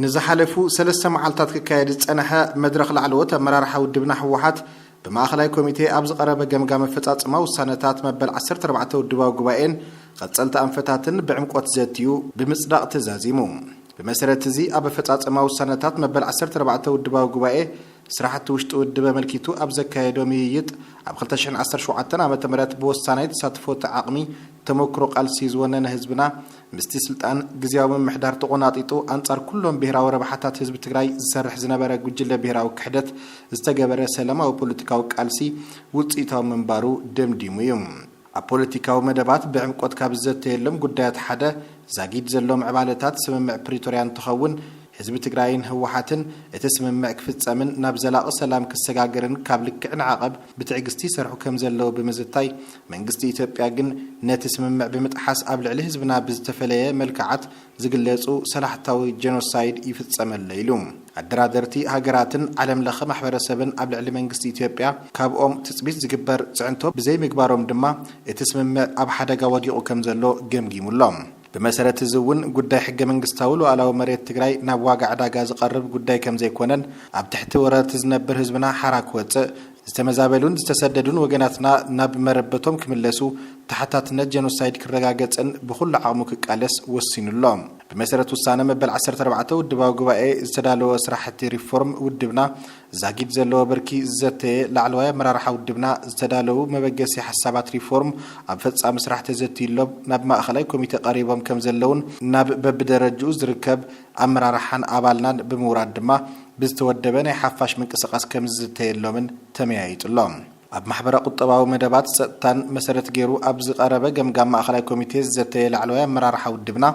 ንዝሓለፉ ሰለስተ መዓልታት ክካየድ ዝፀነሐ መድረኽ ላዕለዎት ኣመራርሓ ውድብና ህወሓት ብማእኸላይ ኮሚቴ ኣብ ዝቐረበ ገምጋም ኣፈፃፅማ ውሳነታት መበል ዓሰርተ ኣርባዕተ ውድባዊ ጉባኤን ቐፀልቲ ኣንፈታትን ብዕምቆት ዘትዩ ብምፅዳቕ ተዛዚሙ። ብመሰረት እዚ ኣብ ኣፈፃፅማ ውሳነታት መበል ዓሰርተ ኣርባዕተ ውድባዊ ጉባኤ ስራሕቲ ውሽጢ ውድብ ኣመልኪቱ ኣብ ዘካየዶ ምይይጥ፣ ኣብ ክልተ ሽሕን ዓሰርተ ሸውዓተን ዓመተ ምህረት ብወሳናይ ተሳትፎ እቲ ዓቕሚ ተሞክሮ ቃልሲ ዝወነነ ህዝብና ምስቲ ስልጣን ግዝያዊ ምምሕዳር ተቖናጢጡ ኣንፃር ኩሎም ብሄራዊ ረብሓታት ህዝቢ ትግራይ ዝሰርሕ ዝነበረ ጉጅለ ብሄራዊ ክሕደት ዝተገበረ ሰላማዊ ፖለቲካዊ ቃልሲ ውፅኢታዊ ምንባሩ ደምዲሙ እዩ። ኣብ ፖለቲካዊ መደባት ብዕምቆት ካብ ዝዘተየሎም ጉዳያት ሓደ ዛጊድ ዘሎ ምዕባለታት ስምምዕ ፕሪቶርያ እንትኸውን፣ ህዝቢ ትግራይን ህወሓትን እቲ ስምምዕ ክፍፀምን ናብ ዘላቒ ሰላም ክሰጋገርን ካብ ልክዕ ንዓቐብ ብትዕግስቲ ይሰርሑ ከም ዘለዉ ብምዝታይ መንግስቲ ኢትዮጵያ ግን ነቲ ስምምዕ ብምጥሓስ ኣብ ልዕሊ ህዝብና ብዝተፈለየ መልክዓት ዝግለጹ ሰላሕታዊ ጀኖሳይድ ይፍጸመለይ ኢሉ። ኣደራደርቲ ሃገራትን ዓለም ለኸ ማሕበረሰብን ኣብ ልዕሊ መንግስቲ ኢትዮጵያ ካብኦም ትጽቢት ዝግበር ጽዕንቶ ብዘይምግባሮም ድማ እቲ ስምምዕ ኣብ ሓደጋ ወዲቑ ከምዘሎ ገምጊሙ ኣሎ። ብመሰረት እዚ እውን ጉዳይ ሕገ መንግስታዊ ሉኣላዊ መሬት ትግራይ ናብ ዋጋ ዕዳጋ ዝቐርብ ጉዳይ ከምዘይኮነን ኣብ ትሕቲ ወረርቲ ዝነብር ህዝብና ሓራ ክወጽእ ዝተመዛበሉን ዝተሰደዱን ወገናትና ናብ መረበቶም ክምለሱ፣ ተሓታትነት ጀኖሳይድ ክረጋገጽን ብኹሉ ዓቕሙ ክቃለስ ወሲኑ ኣሎ። ብመሰረት ውሳነ መበል ዓሰርተ ኣርባዕተ ውድባዊ ጉባኤ ዝተዳለወ ስራሕቲ ሪፎርም ውድብና ዛጊድ ዘለዎ ብርኪ ዝዘተየ ላዕለዋይ ኣመራርሓ ውድብና ዝተዳለዉ መበገሲ ሓሳባት ሪፎርም ኣብ ፈጻሚ ስራሕ ተዘትዩሎም ናብ ማእኸላይ ኮሚቴ ቀሪቦም ከምዘለዉን ናብ በብደረጅኡ ዝርከብ ኣመራርሓን ኣባልናን ብምውራድ ድማ ብዝተወደበ ናይ ሓፋሽ ምንቅስቓስ ከምዝዝተየሎምን ተመያይጡ ኣሎ። ኣብ ማሕበረ ቁጠባዊ መደባት ፀጥታን መሰረት ገይሩ ኣብ ዝቐረበ ገምጋም ማእኸላይ ኮሚቴ ዝዘተየ ላዕለዋይ ኣመራርሓ ውድብና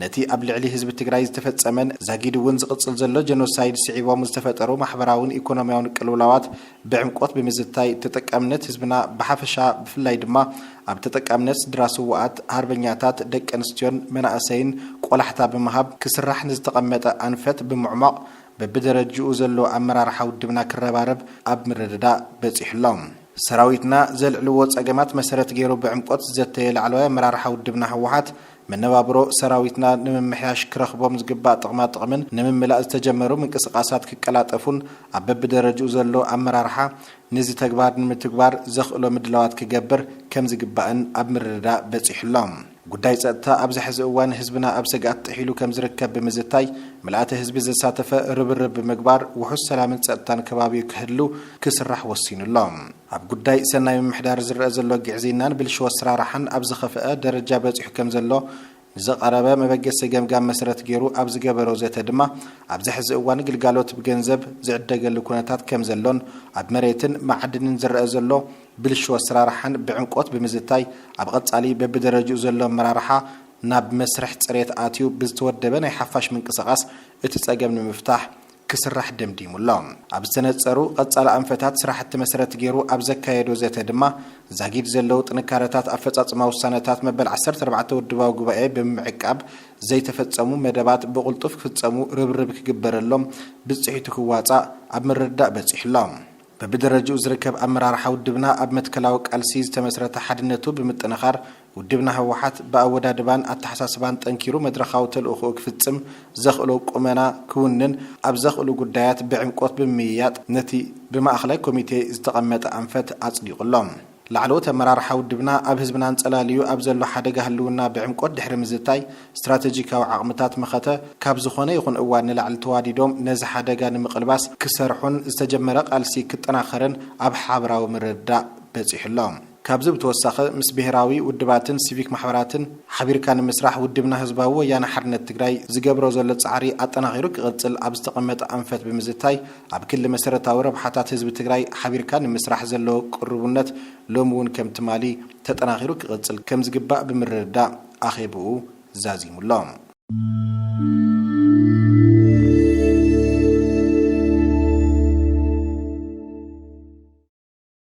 ነቲ ኣብ ልዕሊ ህዝቢ ትግራይ ዝተፈፀመን ዛጊድ እውን ዝቕፅል ዘሎ ጀኖሳይድ ስዒቦም ዝተፈጠሩ ማሕበራዊን ኢኮኖሚያዊን ቅልውላዋት ብዕምቆት ብምዝታይ ተጠቃምነት ህዝብና ብሓፈሻ ብፍላይ ድማ ኣብ ተጠቃምነት ስድራ ስውኣት ሃርበኛታት ደቂ ኣንስትዮን መናእሰይን ቆላሕታ ብምሃብ ክስራሕ ንዝተቐመጠ ኣንፈት ብምዕሟቕ በብደረጅኡ ዘሎ ኣመራርሓ ውድብና ክረባረብ ኣብ ምርድዳእ በፂሑ ኣሎ። ሰራዊትና ዘልዕልዎ ፀገማት መሰረት ገይሩ ብዕምቆት ዝዘተየ ላዕለዋይ ኣመራርሓ ውድብና ህወሓት መነባብሮ ሰራዊትና ንምምሕያሽ ክረኽቦም ዝግባእ ጥቕማ ጥቕምን ንምምላእ ዝተጀመሩ ምንቅስቓሳት ክቀላጠፉን ኣብ በቢደረጅኡ ዘሎ ኣመራርሓ ንዚ ተግባር ንምትግባር ዘኽእሎ ምድላዋት ክገብር ከምዝግባእን ኣብ ምርድዳእ በፂሑ'ሎ። ጉዳይ ፀጥታ ኣብዚ ሐዚ እዋን ህዝብና ኣብ ሰግኣት ጥሒሉ ከምዝርከብ ብምዝታይ ምልኣተ ህዝቢ ዘሳተፈ ርብርብ ብምግባር ውሑስ ሰላምን ፀጥታን ከባቢኡ ክህሉ ክስራሕ ወሲኑ'ሎ። ኣብ ጉዳይ ሰናይ ምምሕዳር ዝረኣ ዘሎ ግዕዝይናን ብልሽው ኣሰራርሓን ኣብ ዝኸፍኣ ደረጃ በፂሑ ከምዘሎ ንዘቐረበ መበገሲ ገምጋም መሰረት ገይሩ ኣብ ዝገበሮ ዘተ ድማ ኣብዚ ሕዚ እዋን ግልጋሎት ብገንዘብ ዝዕደገሉ ኩነታት ከምዘሎን ኣብ መሬትን መዓድንን ዝረኣ ዘሎ ብልሽው ኣሰራርሓን ብዕምቆት ብምዝታይ ኣብ ቐፃሊ በቢደረጅኡ ዘሎ ኣመራርሓ ናብ መስርሕ ፅሬት ኣትዩ ብዝተወደበ ናይ ሓፋሽ ምንቅስቓስ እቲ ፀገም ንምፍታሕ ክስራሕ ደምዲሙ ኣሎ። ኣብ ዝተነፀሩ ቐፃሊ ኣንፈታት ስራሕቲ መሰረት ገይሩ ኣብ ዘካየዶ ዘተ ድማ ዛጊድ ዘለዉ ጥንካረታት ኣፈፃፅማ ውሳነታት መበል ዓሰርተ ኣርባዕተ ውድባዊ ጉባኤ ብምምዕቃብ ዘይተፈፀሙ መደባት ብቕልጡፍ ክፍፀሙ ርብርብ ክግበረሎም ብፅሒቱ ክዋፃእ ኣብ ምርድዳእ በፂሑ ኣሎ። በብደረጅኡ ዝርከብ ኣመራርሓ ውድብና ኣብ መትከላዊ ቃልሲ ዝተመስረተ ሓድነቱ ብምጥንኻር ውድብና ህወሓት ብኣወዳድባን ኣተሓሳስባን ጠንኪሩ መድረኻዊ ተልእኹኡ ክፍፅም ዘኽእሎ ቁመና ክውንን ኣብ ዘኽእሉ ጉዳያት ብዕምቆት ብምምይያጥ ነቲ ብማእኸላይ ኮሚቴ ዝተቐመጠ ኣንፈት ኣፅዲቑ ኣሎ። ላዕለዎት ኣመራርሓ ውድብና ኣብ ህዝብና ኣንጸላልዩ ኣብ ዘሎ ሓደጋ ህልውና ብዕምቆት ድሕሪ ምዝታይ፣ ስትራተጂካዊ ዓቕምታት መኸተ ካብ ዝኾነ ይኹን እዋን ንላዕሊ ተዋዲዶም ነዚ ሓደጋ ንምቕልባስ ክሰርሑን ዝተጀመረ ቃልሲ ክጠናኸርን ኣብ ሓብራዊ ምርድዳእ በጺሑ ኣሎ። ካብዚ ብተወሳኺ ምስ ብሄራዊ ውድባትን ሲቪክ ማሕበራትን ሓቢርካ ንምስራሕ ውድብና ህዝባዊ ወያነ ሓርነት ትግራይ ዝገብሮ ዘሎ ጻዕሪ ኣጠናኺሩ ክቕጽል ኣብ ዝተቐመጠ ኣንፈት ብምዝታይ፣ ኣብ ክሊ መሰረታዊ ረብሓታት ህዝቢ ትግራይ ሓቢርካ ንምስራሕ ዘሎ ቅሩቡነት ሎሚ እውን ከም ትማሊ ተጠናኺሩ ክቕፅል ከም ዝግባእ ብምርድዳእ ኣኼብኡ ዛዚሙ ኣሎ።